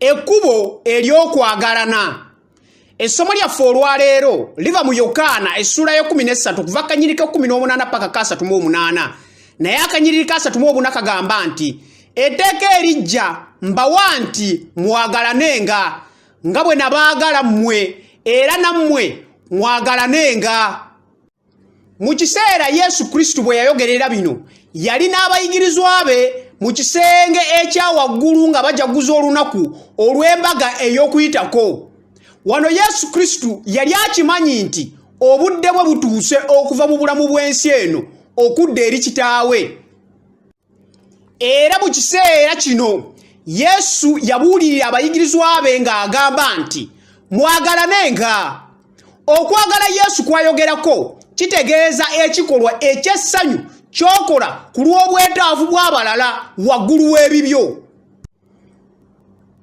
ekkubo ery'okwagalana essomo lyaffe olwaleero liva mu yokaana essuula y'ekumi n'essatu okuva akanyiri k'ekkumi n'omunaana paka ka asatu mu omunaana naye akanyiriri ka asatu mu obuna kagamba nti etteeka erijja mbawa nti mwagalanenga nga bwe nabaagala mmwe era nammwe mwagalanenga mu kiseera yesu kristo bwe yayogerera bino yali n'abayigirizwa be mu kisenge ekya waggulu nga bajaguza olunaku olw'embaga ey'okuyitako wano yesu kristo yali akimanyi nti obudde bwe butuuse okuva mu bulamu bw'ensi eno okudda eri kitaawe era mu kiseera kino yesu yabuulirira abayigirizwa be ng'agamba nti mwagalanenga okwagala yesu kwayogerako kitegeeza ekikolwa eky'essanyu ky'okola ku lw'obwetaavu bw'abalala waggulu w'ebibyo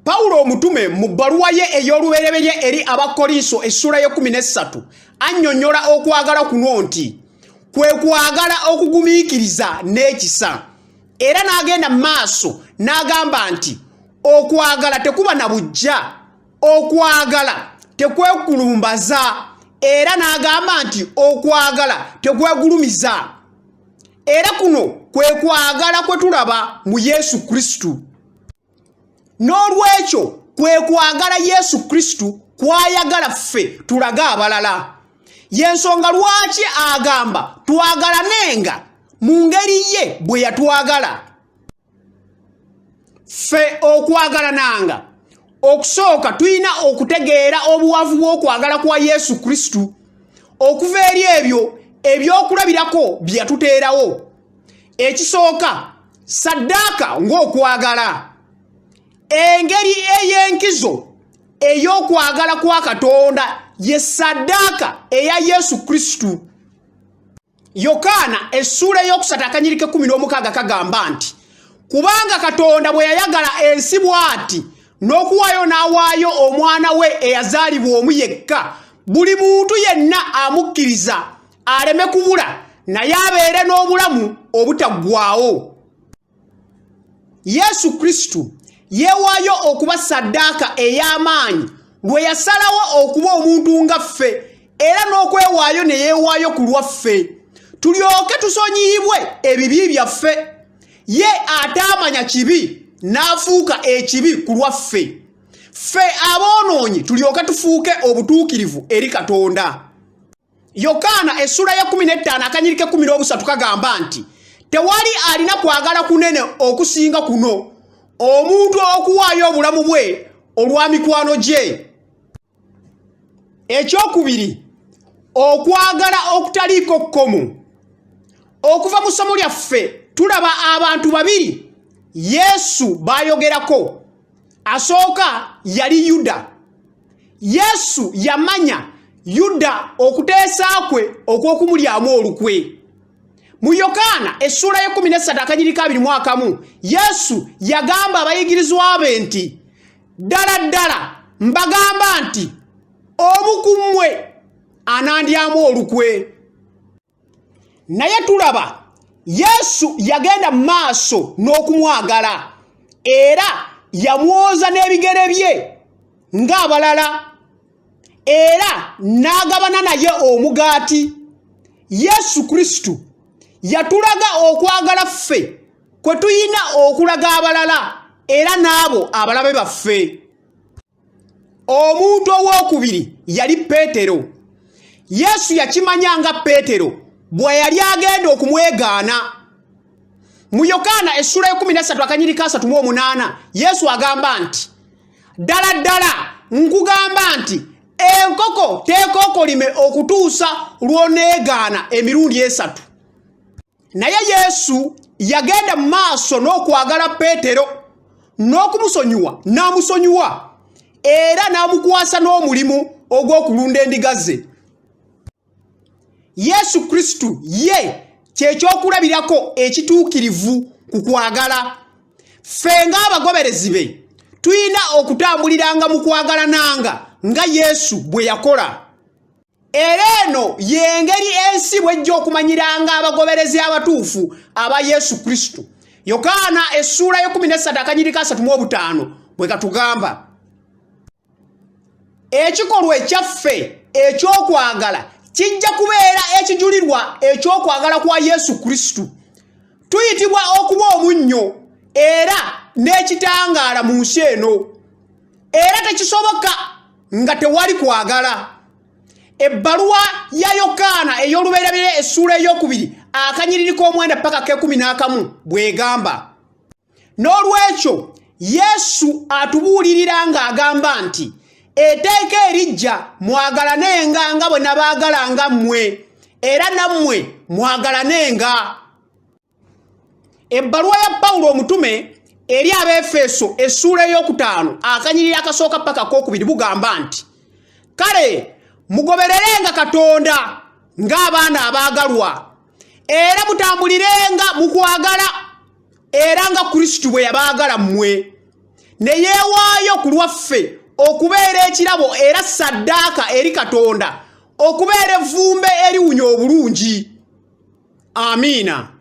pawulo omutume mu bbaluwa ye ey'olubereberye eri abakolinso essula y'ekumi n'essatu annyonnyola okwagala kuno nti kwe kwagala okugumiikiriza n'ekisa era n'agenda mu maaso n'agamba nti okwagala tekuba na bujja okwagala tekwekulumbaza era n'agamba nti okwagala tekwegulumiza era kuno kwe kwagala kwe tulaba mu yesu kristo n'olwekyo kwe kwagala yesu kristo kwayagala ffe tulage abalala y'ensonga lwaki agamba twagalanenga mu ngeri ye bwe yatwagala ffe okwagalanaanga okusooka tulina okutegeera obuwavu bw'okwagala kwa yesu kristo okuva eri ebyo ebyokulabirako bye yatuteerawo ekisooka saddaaka ng'okwagala engeri ey'enkizo ey'okwagala kwa katonda ye saddaaka eya yesu kristo yokaana essuula eyokusatu akanyirika ekumi n'omukaaga kagamba nti kubanga katonda bwe yayagala ensi bw'ati n'okuwaayo n'awaayo omwana we eyazaalibwa omu yekka buli muntu yenna amukkiriza aleme kubula naye abeere n'obulamu obutaggwawo yesu kristo yeewaayo okuba saddaaka ey'amaanyi lwe yasalawo okuba omuntu nga ffe era n'okwewaayo ne yeewaayo ku lwaffe tulyoke tusonyiyibwe ebibi byaffe ye ataamanya kibi n'afuuka ekibi ku lwaffe ffe aboonoonyi tulyoke tufuuke obutuukirivu eri katonda yokaana essula ya 15 akanyirika 13 kagamba nti tewali alina kwagala kunene okusinga kuno omuntu okuwaayo obulamu bwe olwa mikwano gye ekyokubiri okwagala okutaliiko kkomu okuva mu ssomo lyaffe tulaba abantu babiri yesu baayogerako asooka yali yuda yesu yamanya yuda okuteesa kwe okw'okumulyamu olukwe mu yokaana essuula y'ekumi n'essatu akanyiriko abiri mu akamu yesu yagamba abayigirizwa be nti ddala ddala mbagamba nti omu ku mmwe anandyamu olukwe naye tulaba yesu yagenda mu maaso n'okumwagala era yamwoza n'ebigere bye ng'abalala era n'agabana naye omugaati yesu kristo yatulaga okwagala ffe kwe tulina okulaga abalala era n'abo abalabe baffe omuntu ow'okubiri yali peetero yesu yakimanya nga peetero bwe yali agenda okumwegaana mu yokaana essula ekumi nessatu akanyiri kasatu mu omunaana yesu agamba nti ddala ddala nkugamba nti enkoko teekookolime okutuusa lw'oneegaana emirundi esatu naye yesu yagenda mu maaso n'okwagala peetero n'okumusonyiwa n'amusonyiwa era n'amukwasa n'omulimu ogw'okulunda endiga ze yesu kristo ye kyekyokulabirako ekituukirivu ku kwagala ffe ng'abagoberezi be tulina okutambuliranga mu kwagalananga nga yesu bwe yakola era eno y'engeri ensi bw'ejja okumanyiranga abagoberezi abatuufu aba yesu kristo yokaana essuula y'ekumi n'essatu akanyiriko asatu mu obutaano bwe katugamba ekikolwa ekyaffe eky'okwagala kijja kubeera ekijulirwa eky'okwagala kwa yesu kristo tuyitibwa okuba omunnyo era n'ekitangaala mu nsi eno era tekisoboka nga tewali kwagala ebbaluwa ya yokaana ey'olubeerabire essuula ey'okubiri akanyiriri k'omwenda paka k'ekumi n'akamu bw'egamba n'olwekyo yesu atubuulirira ng'agamba nti eteeka erijja mwagalanenga nga bwe nabaagalanga mmwe era nammwe mwagalanenga ebbaluwa ya pawulo omutume eri abeefeeso essuula ey'okutaano akanyirira akasooka paka kookubiri bugamba nti kale mugobererenga katonda ng'abaana abaagalwa era mutambulirenga mu kwagala era nga kristo bwe yabaagala mmwe ne yeewaayo ku lwaffe okubeera ekirabo era saddaaka eri katonda okubeera evvumbe eriwunya obulungi amiina